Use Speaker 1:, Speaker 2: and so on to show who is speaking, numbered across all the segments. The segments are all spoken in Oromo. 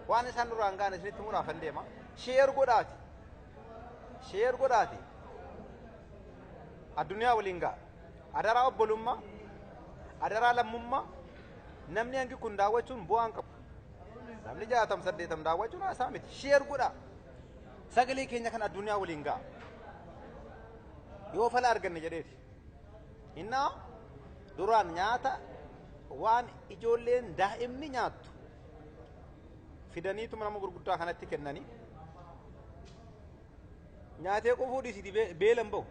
Speaker 1: waan isaan duraan ga'an isinitti muraafan deema sheer godhaati sheer godhaati addunyaa waliin ga'a adaraa obbolummaa adaraa lammummaa namni hangi kun daawwachuun bu'aan qabu namni jaatam saddeetam daawwachuun haasaa miti sheer godhaa sagalee keenya kan addunyaa waliin ga'a yoo fala arganne jedheeti Innaa duraan nyaata waan ijoolleen daa'imni nyaattu fidaniitu nama gurguddaa kanatti kennanii nyaatee qufuu dhiisiti beelan bahu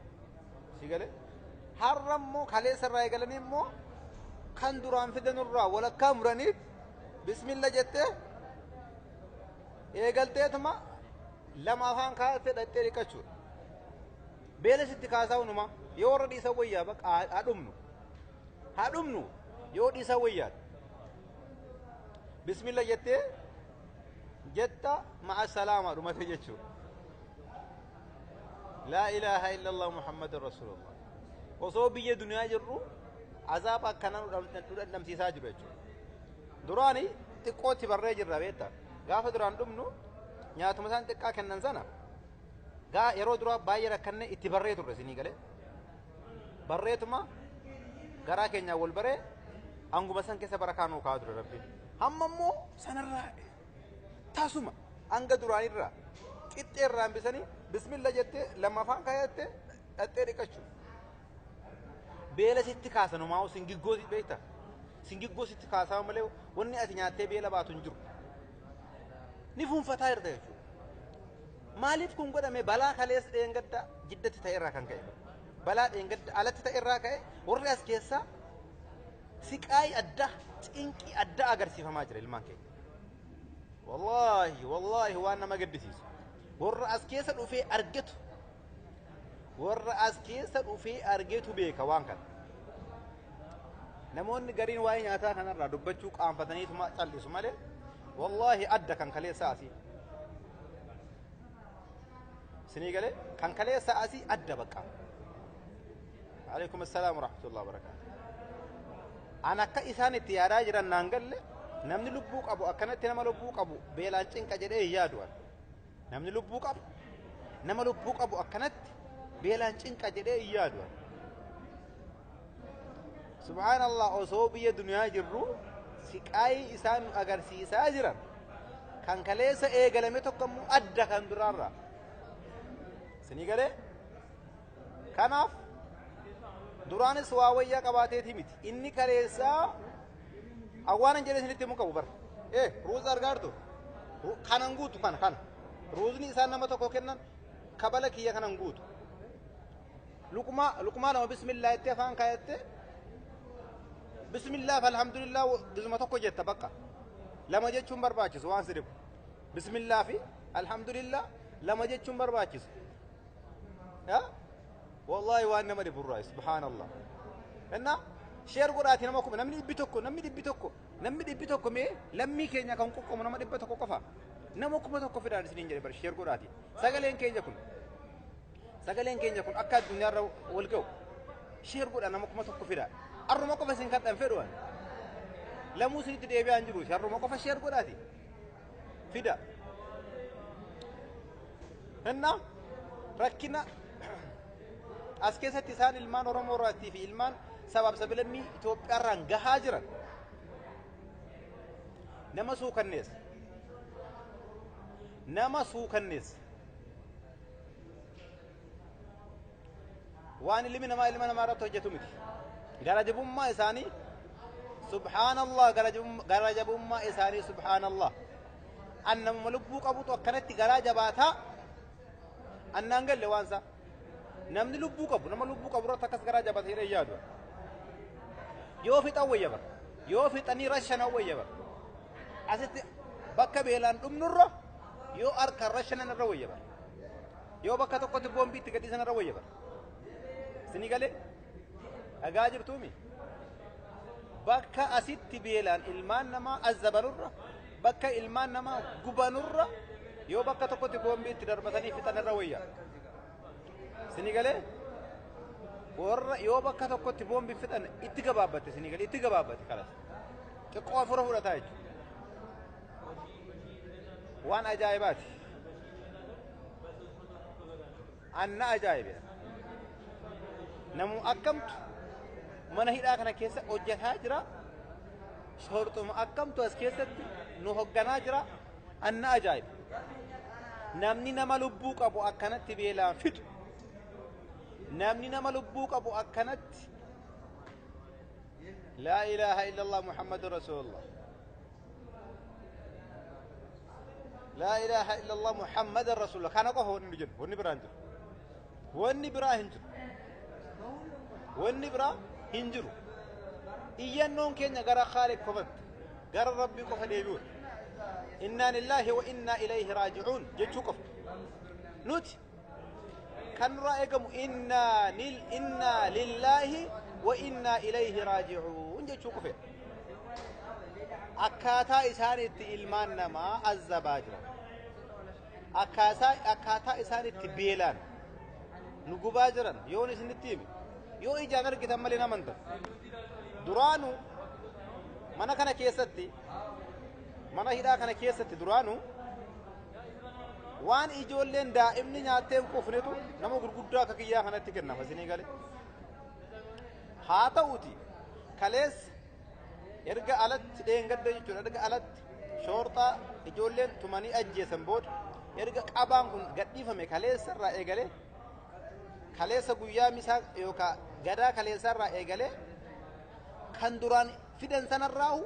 Speaker 1: si galee har'a immoo kaleessa irraa eegalanii immoo kan duraan fidanurraa walakkaa muraniif bismilla jettee eegalteetuma lama afaan kaa'attee dhaqxee dhiqachuudha. Beela sitti kaasaa unumaa. Yoo warra dhiisan wayyaa baqa haa haa dhumnu. Haa dhumnu yoo dhiisan wayyaa. Bismillah jettee jetta ma'a salaamaa dhumate jechuudha. Laa ilaaha illallah Muhammadun Rasulullah. Osoo biyya duniyaa jirru azaaba akkanaa nu dham- nu dhandhamsiisaa jiru jechuudha. Duraani xiqqootti barree jirra beekta. Gaafa duraan dhumnu nyaatuma isaan xiqqaa kennan sana Gaa yeroo duraa baay'ee rakkanne itti barree turre isinii galee. Barreetuma garaa keenyaa wal baree hanguma san keessa bara kaanuu kaa'aa ture rabbiin. Hamma immoo sanarraa tasuma hanga duraanirraa qixxee irraa hambisanii bismilla jettee lammaffaan kaayatte dhaxxee dhiqachu. Beela sitti kaasa numaa'u singiggoo si beekta. Singiggoo sitti kaasaa malee wanni ati nyaattee beela baatu hin jiru. Ni fuunfataa jirta jechuudha. Maaliif kun godhame balaa kaleessa dheengadda jiddatti ta'e irraa kan ka'e. Balaa dheengadda alatti ta'e irraa ka'e warri as keessaa siqaayii addaa cinqii addaa agarsiifamaa jira ilmaan keenya. Wallaahi wallaahi waan nama gaddisiisu. Warra as keessa dhufee argetu warra as keessa dhufee argetu beeka waan kana. Namoonni gariin waa'ee nyaataa kanarraa dubbachuu qaanfataniituma callisu malee wallaahi adda kan kaleessaa asii. Sinii galee kan kaleessaa asii adda baqqaa. Alaikum assalam warahmatullahi wabarakatuh. An akka isaan itti yaadaa jiran naan galle namni lubbuu qabu akkanatti nama lubbuu qabu beelaan cinqa jedhee hin yaadu an. Namni lubbuu qabu nama lubbuu qabu akkanatti beelaan cinqa jedhee hin yaadu. Subhaanallah osoo biyya duniyaa jirru siqaayii isaan nu agarsiisaa jiran kan kaleessa eegalame tokko immoo adda kan duraarra. Isinii galee? Kanaaf duraanis waa wayyaa qabaateeti miti. Inni kaleessaa Awwaanan jedhee isinitti himu qabu bar. Ee ruuza argaartu kanan guutu kana kana. Ruuzni isaan nama tokko kennan kabala kiyya kanan guutu. Luqmaa luqmaa lama bismillaa itti afaan kaayattee bismillaa fi alhamdulillah gizuma tokko jetta bakka. Lama jechuun barbaachisu waan si dhibu. Bismillaa fi alhamdulillah lama jechuun barbaachisu. Yaa? Wallahi waan nama dhibu irraa subhaanallah. Innaa sheer godhaati nama kuma namni dhibbi tokko namni dhibbi tokko namni dhibbi tokko mee lammii keenya kan qoqqoomu nama dhibba tokko qofa nama kuma tokko fidaan isiniin jedhe bar sheer godhaati sagaleen keenya kun sagaleen keenya kun akka addunyaarra wal ga'u sheer godha nama kuma tokko fida harruma qofa isin kadhan fedhuwan lamuu isinitti deebi'aan jiru harruma qofa sheer godhaati. fida. Hennaa rakkina as keessatti isaan ilmaan Oromoo irraattii fi ilmaan sabaaf sabilammii Itoophiyaa irraan gahaa jiran nama suukanneessa. Nama suukanneessa. waan ilmi namaa ilma namaa irratti hojjetu miti gara jabummaa isaanii subhaanallah gara jabum- gara jabummaa isaanii subhaanallah an namuma lubbuu qabutu akkanatti garaa jabaataa annaan galle waan isaa namni lubbuu qabu nama lubbuu qabu irratti akkas garaa jabaata jedhee yaadu yoo fixan wayya bara yoo fixanii rashanan wayya bara asitti bakka beelaan dhumnurra yoo harkaan rashanan irra wayya bara Yoo bakka tokkotti boombii itti gadhiisan irra wayya bara. Isinii galee dhagaa jirtuumi. Bakka asitti beelaan ilmaan namaa azzabanurra bakka ilmaan namaa gubanurra yoo bakka tokkotti boombii itti darbatanii fixan irra wayya. Isinii galee warra yoo bakka tokkotti boombii fixan itti gabaabbate isinii galee itti gabaabbate kalas. Xiqqoo afura fudhataa jechuudha. waan ajaa'ibaati. Anna ajaa'ibe. Namuu akkamtu mana hidhaa kana keessa hojjetaa jira. Soorxuma akkamtu as keessatti nu hogganaa jira. Anna ajaa'ibe. Namni nama lubbuu qabu akkanatti beelaan fixu. Namni nama lubbuu qabu akkanatti laa ilaaha illallah muhammadun rasuulullah. laa ilaaha illallah muhammadan rasuula kana qofa wanni nu jennu wanni biraa hin jiru wanni biraa hin jiru wanni biraa hin jiru iyyannoon keenya gara khaaliq qofatti gara rabbii qofa deebi'uudha innaa lillaahi wa innaa ilayhi raaji'uun jechuu qofa nuti kan nurraa eegamu innaa nil innaa lillaahi wa innaa ilayhi raaji'uun jechuu qofa akkaataa isaan itti ilmaan namaa azzabaa jiran akkaataa akkaataa isaan itti beelaan nu gubaa jiran yoon isinitti hime yoo ijaan argitan malee nama hin ta'u duraanu mana kana keessatti mana hidhaa kana keessatti duraanu Waan ijoolleen daa'imni nyaattee hin quufnetu nama gurguddaa akka kiyyaa kanatti kennama isinii galee. Haa ta'uti kaleessa erga alatti dheengadda jechuudha erga alatti shoorxaa ijoolleen tumanii ajjeesan booda erga qabaan kun gadhiifame kaleessa irraa eegalee kaleessa guyyaa misaa yookaan gadaa kaleessa irraa eegalee kan duraan fidan sanarraahu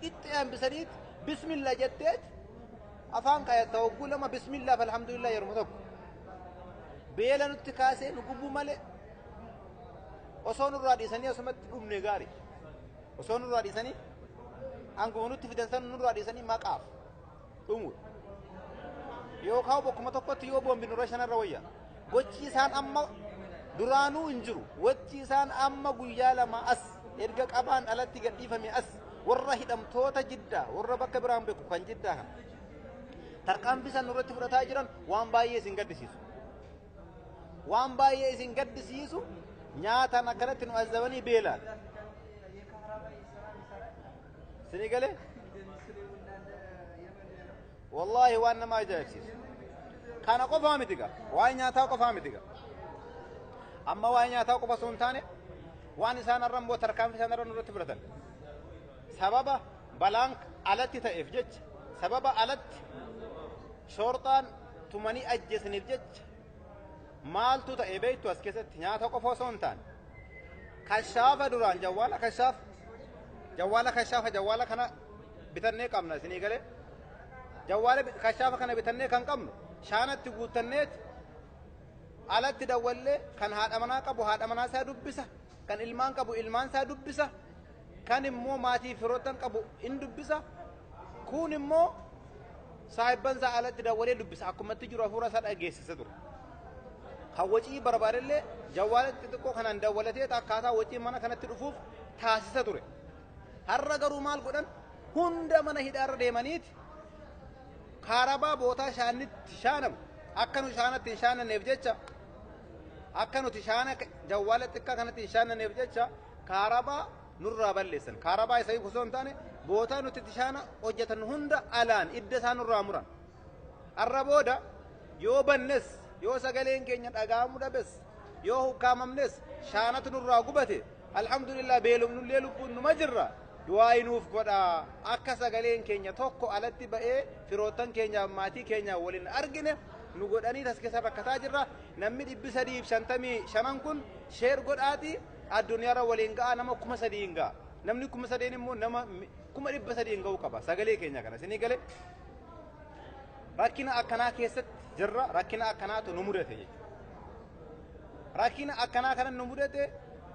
Speaker 1: qixxee hambisaniit bismillah jetteet afaan kayatta hogguu lama bismillah fi alhamdulillah yeruma tokko beela nutti kaasee nu gubuu malee osoo nurraa dhiisanii asumatti dhumne gaari osoo nurraa dhiisanii hanguma nutti fidan san nurraa dhiisanii maqaaf dhumudha. Yookaan bakkuma tokkotti yoo boombi nurra shanarra wayya. Gochi isaan amma duraanuu hin jiru. Gochi isaan amma guyyaa lama as erga qabaan alatti gadhiifame as warra hidhamtoota jiddaa warra bakka biraan beeku kan jiddaa kana. Tarkaanfii isaan nurratti fudhataa jiran waan baay'ee isin gaddisiisu. Waan baay'ee isin gaddisiisu nyaataan akkanatti nu azabanii beelaan. Sinii galee? Wallaahi waan nama ajaa'ibsiisu. Kana qofaa miti gaa. Waa'ee nyaataa qofaa miti gaa. Amma waa'ee nyaataa qofa osoo hin taane waan isaan irra immoo tarkaanfii isaan irra nurratti fudhatan. Sababa balaan alatti ta'eef jecha sababa alatti shoorxaan tumanii ajjeesaniif jecha Maaltu ta'e beektu as keessatti nyaata qofa osoo hin taane. Kashaafa duraan jawwaala kashaafa. Jawwaala kashaafa jawwaala kana bitannee qabna isinii galee. Jawwaala bi- kashaafa kana bitannee kan qabnu shaanatti guuttanneeti alatti dawwallee kan haadha manaa qabu haadha manaa isaa dubbisa kan ilmaan qabu ilmaan isaa dubbisa Kan immoo maatii firoottan qabu in dubbisa. Kuun immoo saahibban isaa alatti dawwalee dubbisa. Akkuma itti jiru hafuura isaa dhageessisa ture. Kan wacii barbaadillee jawwaala xixiqqoo kanaan dawwalatee akkaataa wacii mana kanatti dhufuuf taasisa ture. Har'a garuu maal godhan hunda mana hidhaarra deemaniiti kaarabaa bootaa shaanitti shaanamu akka nu shaanatti hin shaananneef jecha akka nuti shaana jawwaala xiqqaa kanatti hin shaananneef jecha Kaarabaa nurraa balleessan. Kaarabaa isa hiiku osoo hin taane bootaa nuti itti shaana hojjetan hunda alaan idda isaa nurraa muran. Har'a booda yoo bannes, yoo sagaleen keenya dhaga'amuu dhabes, yoo hukkaamamnes, shaanatu nurraa gubate alhamdulillah beelofnullee lubbuun numa jirra. Du'aayi nuuf godhaa akka sagaleen keenya tokko alatti ba'ee firoottan keenyaaf maatii keenyaaf waliin argine nu godhanii tas keessa rakkataa jirra. Namni dhibbi sadii fi shantamii shanan kun sheer godhaatii Addunyaarra waliin ga'a nama kuma sadiin ga'a. Namni kuma sadeen immoo nama mi- kuma dhibba sadiin ga'uu qaba. Sagalee keenya kana isinii gale rakkina akkanaa keessatti jirra rakkina akkanaatu nu mudate jechuudha. Rakkina akkanaa kana nu mudate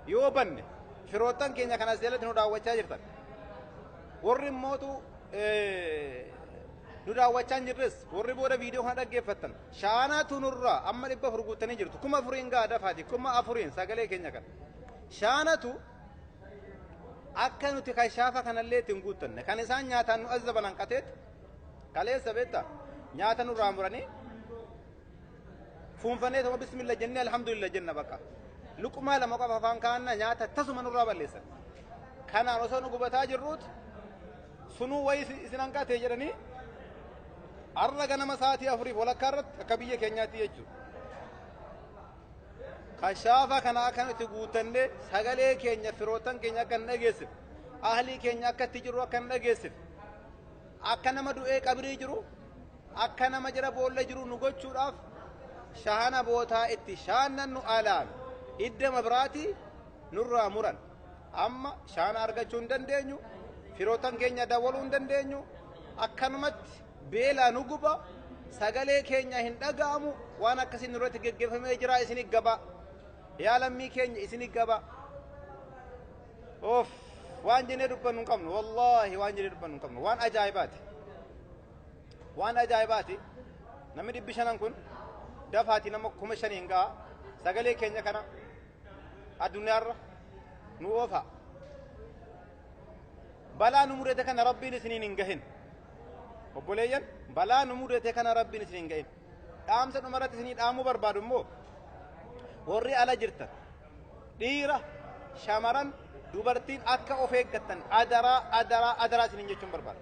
Speaker 1: yoo banne firoottan keenya kana as jalatti nu daawwachaa jirtan. Warri immootu eh, nu daawwachaa hin jirres warri booda viidiyoo kana dhaggeeffattan Shaanaatu nurraa amma 400 guuttanii jirtu 4000n ga'a dafaati 4000n sagalee keenya kana shaanatu akka nuti kashaafa kanallee ittiin guuttanne kan isaan nyaataan nu azzaban hanqateet kaleessa beetta nyaata nurraa muranii fuunfanee tokko bismilla jennee alhamdulillah jenna bakka luqumaa lama qofa afaan kaanna nyaata tasuma nurraa balleessan kanaan osoo nu gubataa jirruut Sunuu wayi isin hanqate jedhanii har'a ganama sa'aatii afuriif walakkaa irratti akka biyya keenyaatti jechuudha. Kashaafa kana akka nuti guuttannee sagalee keenya firootan keenya akka hin dhageessif ahlii keenya akka itti jiru akka hin dhageessif akka nama du'ee qabrii jiru akka nama jira boolla jiru nu gochuudhaaf shahana bootaa itti shaannannu alaan hidda mabraatii nurraa muran. Amma shaana argachuu hin dandeenyu, firootan keenya dawwaluu hin dandeenyu, akkanumatti beelaa nu guba, sagalee keenya hin dhaga'amu, waan akkasiin nurratti geggeeffamee jira isin gaba. Yaa lammii keenya isin gaba. Oof waan jennee dubbannu hin qabnu, wallaahi waan jennee dubbannu hin qabnu, waan ajaa'ibaati. Waan ajaa'ibaati. Namni dhibbi shanan kun dafaatii nama kuma shaniin ga'a. Sagalee keenya kana addunyaarra nu oofa balaa nu mudate kana rabbiin isiniin hin gahin obboleeyyan balaa nu mudate kana rabbiin isiniin hin gahin dhaamsa dhumarratti isinii dhaamuu barbaadu immoo warri ala jirtan dhiira shamaran dubartiin akka of eeggattan adaraa adaraa adaraa isiniin jechuun barbaada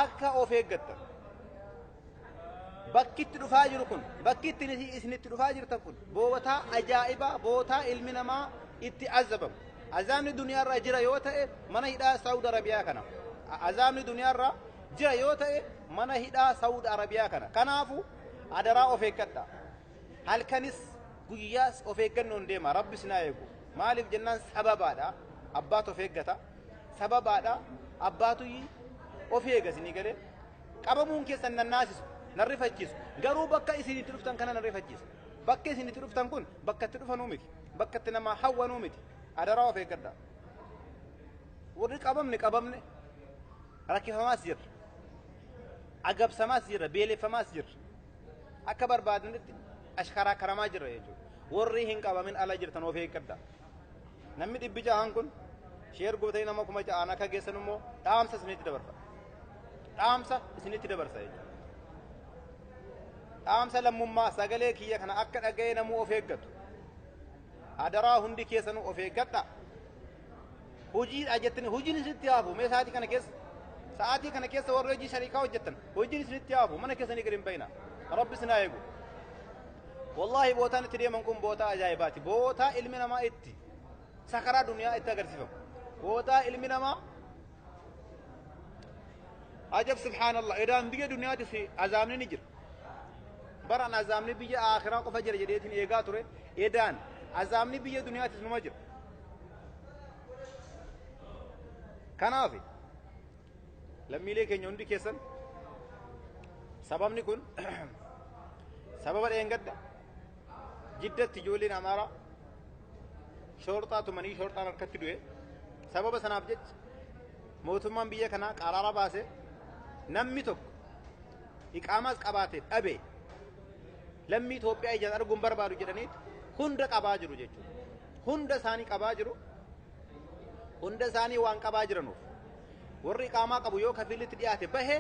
Speaker 1: akka of eeggattan Bakki itti dhufaa jiru kun, bakki itti isin itti dhufaa jirtan kun bootaa ajaa'ibaa, bootaa ilmi namaa itti azabamu. Azaabni duniyaarraa jira yoo ta'e mana hidhaa Saawud Arabiyaa kana. Azaabni duniyaarraa jira yoo ta'e mana hidhaa Saawud Arabiyaa kana. Kanaafuu adaraa of eeggadhaa. Halkanis guyyaas of eeggannoon deema. Rabbi sinaa eegu. Maaliif jennaan sababaadha. Abbaatu of eeggata. Sababaadha. Abbaatu of eega isinii galee. Qabamuun keessan na naasisu, na rifachiisu. Garuu bakka isin itti dhuftan kana na rifachiisa. Bakki isin itti dhuftan kun bakka itti dhufanuu miti. Bakka itti namaa hawwanuu miti. Adaraa of eeggadhaa. Warri qabamne qabamne rakkifamaas jirra. Agabsamaas jirra, beeleffamaas jirra. Akka barbaadanitti ashkaraakaramaa jirra jechuudha. Warri hin qabamin ala jirtan of eeggadhaa. Namni dhibbi ja'aan kun sheer gootanii nama kuma ja'aan akka geessan immoo dhaamsa isinitti dabarsa. Dhaamsa isinitti dabarsa jechuudha. Dhaamsa lammummaa sagalee kiyya kana akka dhaga'ee namuu of eeggatu. Adaraa hundi keessanuu of eeggadha. Hojiidha jettanii hojiin isinitti haafu mee sa'aatii kana keessa sa'aatii kana keessa warri hojii shariikaa hojjettan hojiin isinitti haafu mana keessanii gadi hin bayina. Rabbi isin haa eegu. Wallaahi bootaan itti deeman kun bootaa ajaa'ibaati. Bootaa ilmi namaa itti sakaraa duniyaa itti agarsiifamu. Bootaa ilmi namaa ajab subhaanallah edaan biyya duniyaatis azaabni ni jira. Baran azaabni biyya akhiraa qofa jira jedheetiin eegaa ture. Edaan azaabni biyya duniyaatis numa jira. Kanaaf lammiilee keenya hundi keessan sababni kun sababa dheengadda jiddatti ijoolleen amaaraa shoorxaa tumanii shoorxaan harkatti du'e sababa sanaaf jecha mootummaan biyya kanaa qaraara baase namni tokko iqaamaas qabaate dhabe lammii Itoophiyaa ijaan arguun barbaadu jedhanii hunda qabaa jiru jechuudha. Hunda isaanii qabaa jiru. hunda isaanii waan qabaa jiranuuf warri iqaamaa qabu yoo kafiilitti dhiyaate bahe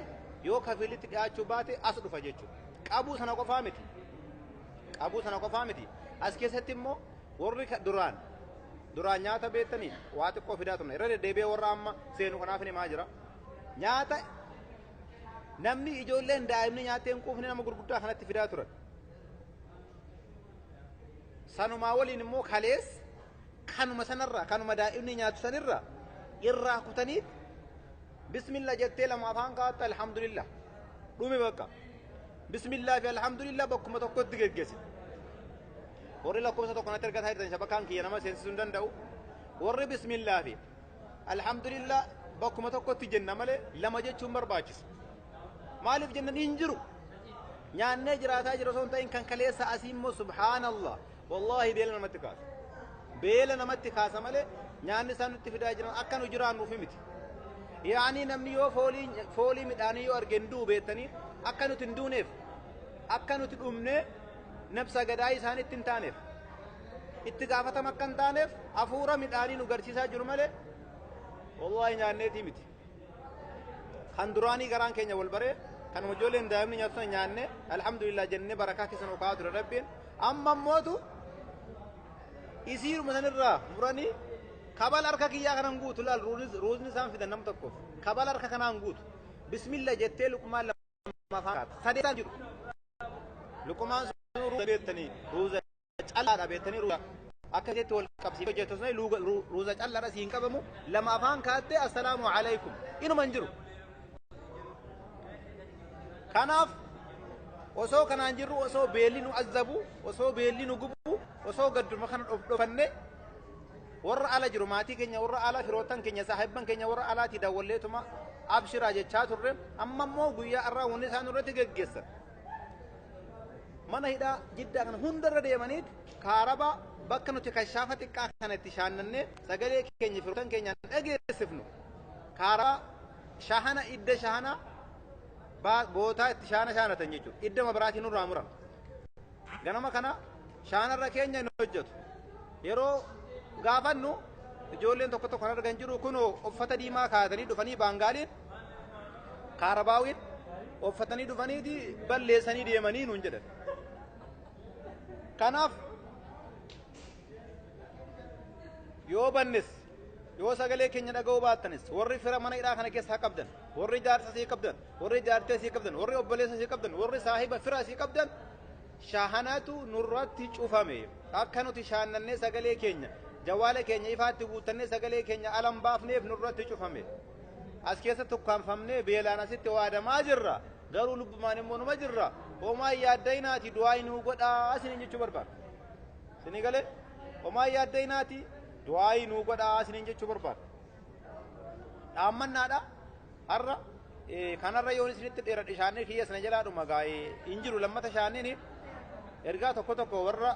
Speaker 1: yoo kafiilitti dhiyaachuu baate as dhufa jechuudha. Qabuu sana qofaa miti. Qabuu sana qofaa miti. As keessatti immoo warri ka- duraan duraan nyaata beektaniif waa xiqqoo fidaa turne irra deddeebi'ee warra amma seenu kanaaf hin himaa jira. Nyaata namni ijoolleen daa'imni nyaattee hin quufne nama gurguddaa kanatti fidaa turan. Sanumaa waliin immoo kalees kanuma sanarraa kanuma daa'imni nyaatu sanirraa irraa kutaniit bismillah jettee lama afaan kaa'atte alhamdulillah dhume bakka bismillah fi alhamdulillah bakkuma tokkotti geggeesse warri lakkoofsa tokko natti ergataa jirtan shabakaan kiyya nama seensisuu hin danda'u warri bismillah fi alhamdulillah bakkuma tokkotti jenna malee lama jechuun barbaachisa maaliif jennan hin jiru nyaannee jiraataa jira osoo hin ta'in kan kaleessa asii immoo subhaanallah Wallaahi beela namatti kaasa. Beela namatti kaasa malee nyaanni isaan nutti fidaa jiran akka nu jiraannuuf miti. Yaanii namni yoo foolii foolii midhaanii yoo arge hin du'u beektanii akka nuti hin duuneef akka nuti dhumnee nabsa gadaa isaanitti hin taaneef itti gaafatama akka hin taaneef hafuura midhaanii nu garsiisaa jiru malee wallaahi nyaanneetii miti. kan duraanii garaan keenya wal baree kan ijoolleen daa'imni nyaatu sana nyaanne alhamdulillah jennee barakaa keessan okaa ture rabbiin amma mootu isiiruma sanirraa muranii kabal harka kiyyaa kanan guutu laal ruuzni isaan fidan nam tokkoof kabal harka kanaan guutu bismillah jettee luqmaan lama afaan kaata sadeetaan jiru luqmaan sun ruuza beektanii ruuza callaadha beektanii ruuza akka jetti wal qabsiif hojjettu sun ruuza callaadha siin qabamu lama afaan kaattee assalaamu alaykum inuma hin jiru. Kanaaf osoo kanaan jirru osoo beelli nu azzabu osoo beelli nu gubu osoo gadduma kana dhofannee warra ala jiru maatii keenya warra ala firootan keenya saahibban keenya warra alaati daawwalleetuma abshiraa jechaa turre amma immoo guyyaa irraa wanni isaan irratti geggeessan Mana hidhaa jiddaa kana hundarra deemaniit kaarabaa bakka nuti kashaafa xiqqaa kana itti shaannannee sagalee keenya firoottan keenyaan dhageessifnu kaarabaa shahana idda shahana baa- bootaa itti shaana shaanatan jechuudha. Idda mabaraatii nurraa muran. Ganama kana shaanarra keenya hin hojjetu. Yeroo gaafannu ijoolleen tokko tokko kan argan jiru kunoo uffata diimaa kaatanii dhufanii baangaaliin kaarabaawiin uffatanii dhufaniiti balleessanii deemanii nuun jedhan. Kanaaf yoo bannes yoo sagalee keenya dhaga'uu baattanis warri fira mana hidhaa kana keessa haa qabdan warri jaarsa sii qabdan warri jaartee sii qabdan warri obboleessa sii qabdan warri saahiba fira sii qabdan shahanatu nurratti cufame akka nuti shaannannee sagalee keenya jawaala keenya ifaatti guuttannee sagalee keenya alan baafneef nurratti cufame. As keessatti ukkaamfamnee beelaan asitti waadamaa jirra. Garuu lubbumaan immoo numa jirra. Homaa hin yaadda'inaati du'aayi nuu godhaa isiniin jechuu barbaada. Isinii galee? Homaa hin yaadda'inaati du'aayi nuu godhaa isiniin jechuu barbaada. Dhaammannaadha har'a eh, kanarra yoon isinitti dheeradhe shaannee kiyya sana jalaa dhuma gaa'ee hin jiru lammata shaanneen ergaa tokko tokko warra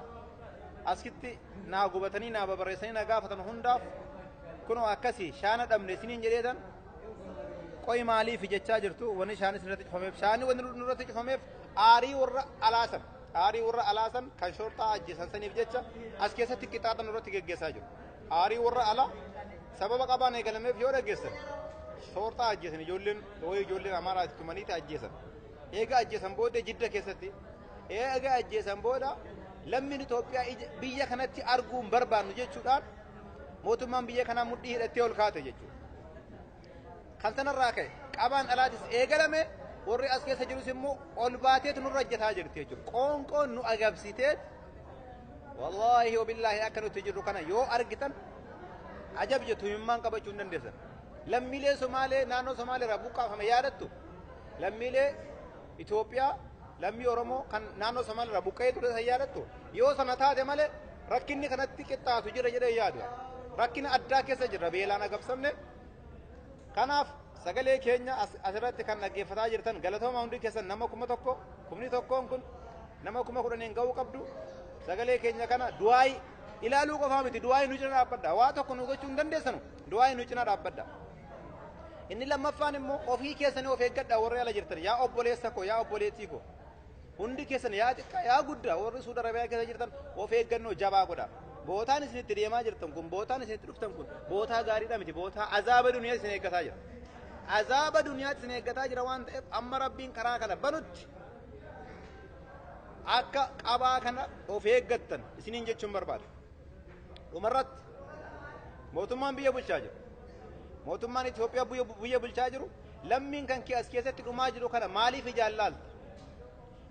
Speaker 1: asitti naa gubatanii naa babarreessanii na gaafatan hundaaf kunoo akkasi shaana dhabne isiniin jedheetan qoy maaliif jechaa jirtu wanni shaani isinirratti cufameef shaani wanni nurratti cufameef aarii warra alaasan aarii warra alaasan kan shorxaa ajjeesan saniif jecha as keessatti qixaaxa nurratti geggeessaa jiru aarii warra alaa sababa qabaan eegalameef yoo dhaggeessan shorxaa ajjeesan ijoolleen wayii ijoolleen amaaraatti tumaniiti ajjeesan eega ajjeesan booddee jidda keessatti Eega ajjeesan booda lammiin Itoophiyaa ija- biyya kanatti arguu hin barbaannu jechuudhaan mootummaan biyya kanaa mudhii hidhattee ol kaate jechuudha. Kan sanarraa ka'e qabaan alaatis eegalame warri as keessa jirus immoo ol baateetu nurra hojjetaa jirti jechuudha. Qoonqoon nu agabsiteet wallaahi wabillaahi akka nuti jirru kana yoo argitan ajab jettu himimmaan qabachuu hin dandeessan. Lammiilee Somaalee naannoo Somaalee irraa buqqaafame yaadattu lammiilee Itoophiyaa lammii Oromoo kan naannoo Somaal irraa buqqa'ee ture san yaadattu yoo sana taate malee rakkinni kanatti qixxaatu jira jedhee yaadu. Rakkina addaa keessa jirra beelaan agabsamne. Kanaaf sagalee keenya as- asirratti kan dhaggeeffataa jirtan galatooma hundi keessan nama kuma tokko kumni tokkoon kun nama kuma kudhaniin ga'uu qabdu sagalee keenya kana du'aayi ilaaluu qofaa miti du'aayi nu cina dhaabbadha waa tokko nu gochuu hin dandeessanu du'aayi nu cina dhaabbadha Inni lammaffaan immoo ofii keessanii of eeggadhaa warri ala jirtan yaa obboleessa koo yaa obboleettii koo hundi keessan yaa xiqqaa yaa guddaa warri suuda rabiyaa keessa jirtan of eeggannoo jabaa godha bootaan isin itti deemaa jirtan kun bootaan isin itti dhuftan kun bootaa gaariidha miti bootaa azaaba duniyaa isin eeggataa jira azaaba duniyaa isin eeggataa jira waan ta'eef amma rabbiin karaa kana banutti akka qabaa kana of eeggattan isiniin jechuun barbaada. Dhumarratti mootummaan biyya bulchaa jiru. Mootummaan Itoophiyaa biyya bulchaa jiru lammiin kan kee as keessatti dhumaa jiru kana maaliif ijaan laalta?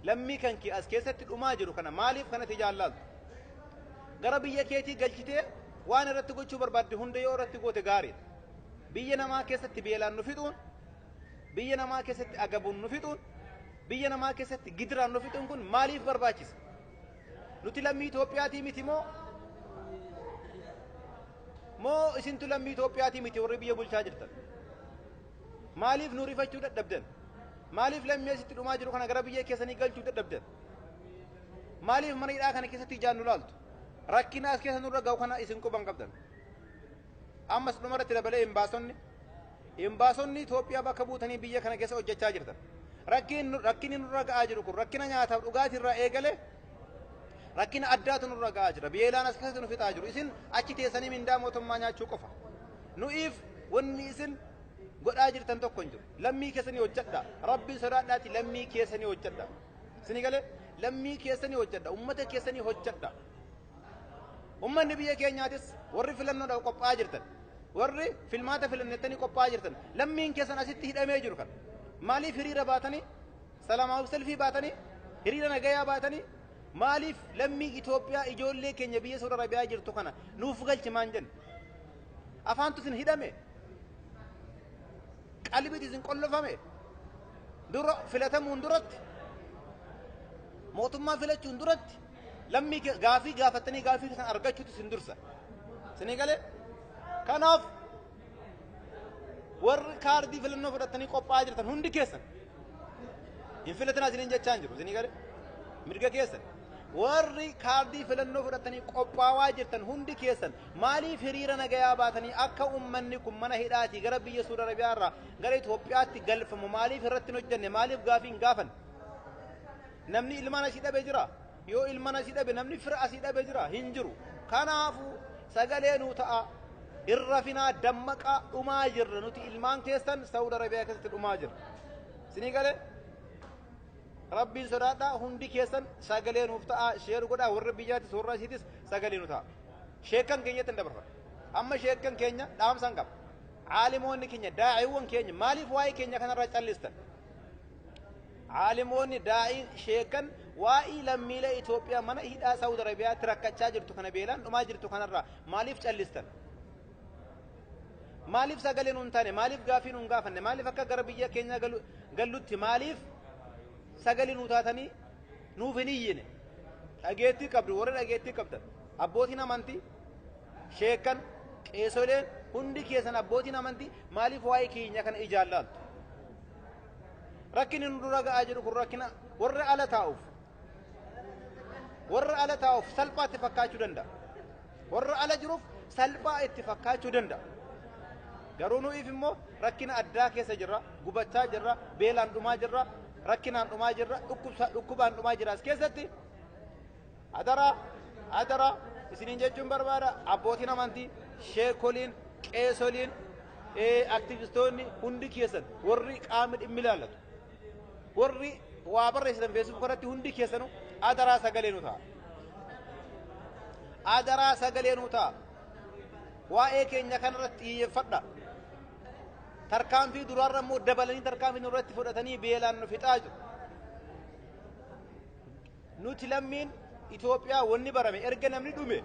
Speaker 1: Lammii kan kee as keessatti dhumaa jiru kana maaliif kanatti ijaan laalta? Gara biyya keetii galchitee waan irratti gochuu barbaadde hunda yoo irratti goote gaariidha. Biyya namaa keessatti beelaan nu fixuun, biyya namaa keessatti agabuun nu fixuun, biyya namaa keessatti gidiraan nu fixuun kun maaliif barbaachisa? Nuti lammii Itoophiyaatii miti moo? Moo isintu lammii Itoophiyaatii miti warri biyya bulchaa jirtan? Maaliif nu rifachuu dadhabdan? Maaliif lammii asitti dhumaa jiru kana gara biyya keessanii galchuu dadhabdan? Maaliif mana hidhaa kana keessatti ijaan nu laaltu? Rakkina as keessa nurra ga'u kana isin quban qabdan. Ammas dhumarratti dabalee imbaasonni imbaasonni Itoophiyaa bakka buutanii biyya kana keessa hojjechaa jirtan rakkin- rakkinni nurra ga'aa jiru kun rakkina nyaataaf dhugaatii irraa eegale rakkina addaatu nurra ga'aa jira beelaan as keessatti nu fixaa jiru isin achi teessanii mindaa mootummaa nyaachuu qofa nu'iif wanni isin godhaa jirtan tokko hin jiru lammii keessanii hojjedha rabbiin sodaadhaati lammii keessanii hojjedha isin galee lammii keessanii hojjedha ummata keessanii hojjedha Ummanni biyya keenyaatis warri filannoodhaaf qophaa'aa jirtan, warri filmaata filannettanii qophaa'aa jirtan, lammiin keessan asitti hidhamee jiru kan maaliif hiriira baatanii, salamaaf selfii baatanii, hiriira nagayaa baatanii, maaliif lammii Itoophiyaa ijoollee keenya biyya Saudi Arabiyaa jirtu kana nuuf galchi maan jenna? Afaantu isin hidhame? Qalbiitu isin qollofame? Dura filatamuun duratti mootummaa filachuun duratti Lammii ke- gaafii gaafattanii gaafii keessan argachuutu isin dursa. Isinii galee? Kanaaf warri kaardii filannoo fudhattanii qophaa'aa jirtan hundi keessan hin filatinaa isiniin jechaa hin jiru. Isinii galee? Mirga keessan. Warri kaardii filannoo fudhattanii qophaa'aa jirtan hundi keessan maaliif hiriira nagayaa baatanii akka uummanni kun mana hidhaatii gara biyya Suudi Arabiyaa irraa gara Itoophiyaatti galfamu maaliif irratti hin hojjenne maaliif gaafii hin gaafanne? Namni ilmaan asii dhabe jira? Yoo ilmaan asii dhabe namni fira asii dhabe jira? Hin jiru. Kanaafu sagalee nuu ta'a. Hin rafinaa dammaqaa dhumaa jirra nuti ilmaan keessan Saud Arabiyaa keessatti dhumaa jirra. Sinii galee? Rabbiin sodaadhaa hundi keessan sagalee nuuf ta'a sheer godhaa warra biyyaatis warra asiitis sagalee nu ta'a. Sheekkan keenyatti hin dabarfadha. Amma sheekkan keenya dhaamsan qaba. Caalimoonni keenya daa'iiwwan keenya maaliif waa'ee keenya kanarraa callistan? Aalimoonni, daa'iin, sheekkan waa'ii lammiilee Itoophiyaa mana hidhaa Saawud Arabiyaatti rakkachaa jirtu kana beelaan dhumaa jirtu kanarraa maaliif callistan? Maaliif sagalee nuun taane? Maaliif gaaffii nuun gaafanne? Maaliif akka gara biyya keenyaa galu- gallutti maaliif sagalee nuu taatanii nuuf hin iyyine? Dhageettii qabdu warri dhageettii qabdan abbootiin amantii sheekkan qeesoleen hundi keessan abbootiin amantii maaliif waa'ee keenya kana ijaan laaltu? Rakkinni nu dura ga'aa jiru kun rakkina warra ala taa'uuf warra ala taa'uuf salphaa itti fakkaachuu danda'a. Warra ala jiruuf salphaa itti fakkaachuu danda'a. Garuu nuyiif immoo rakkina addaa keessa jirra, gubachaa jirra, beelaan dhumaa jirra, rakkinaan dhumaa jirra, dhukkubsa- dhukkubaan dhumaa jirra as keessatti Adara adara isiniin jechuun barbaada abbootiin amantii sheekoliin qeesoliin aktivistoonni hundi keessan warri qaamni dhimmi ilaallatu warri waa barreessitan feesbuuk irratti hundi keessanu adaraa sagalee nu ta'a. Adaraa sagalee nu ta'a. Waa'ee keenya kanarratti xiyyeeffadha. Tarkaanfii duraarra immoo dabalanii tarkaanfii nurratti fudhatanii beelaan nu fixaa jiru. Nuti lammiin Itoophiyaa wanni barame erga namni dhume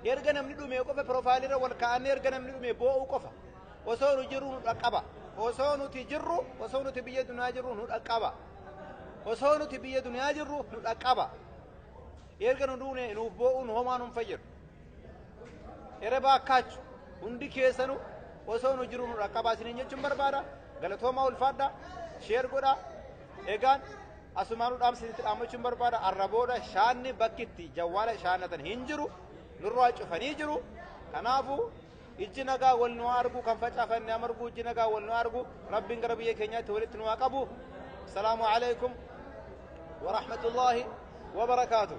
Speaker 1: erga namni dhume qofa piroofaayilirra wal kaa'annee erga namni dhume boo'uu qofa. Osoo nu jirru nu dhaqqaba. Osoo nuti jirru osoo nuti biyya dunyaa jirru nu dhaqqaba. Osoo nuti biyya dunyaa jirru nu dhaqqaba. Erga nu duune nuuf boo'uun homaa nun fayyadu. Erebaa akkaachu hundi keessanu osoo nu jirru nu dhaqqaba isiniin jechuun barbaada. Galatoomaa ulfaadha. Sheer godha. Egaan asumaanuu dhaamsa isinitti dhaammachuun barbaada arra booda shaanni bakki itti jawwaala shaannatan hin jiru nurraa cufanii jiru kanaafuu ijji nagaa wal nu haa argu kan facaafanne haa margu ijji nagaa wal nu haa argu rabbiin gara biyya keenyaatti walitti nu haa qabu salaamu alaikum warahmatullaahi wabarakaatuh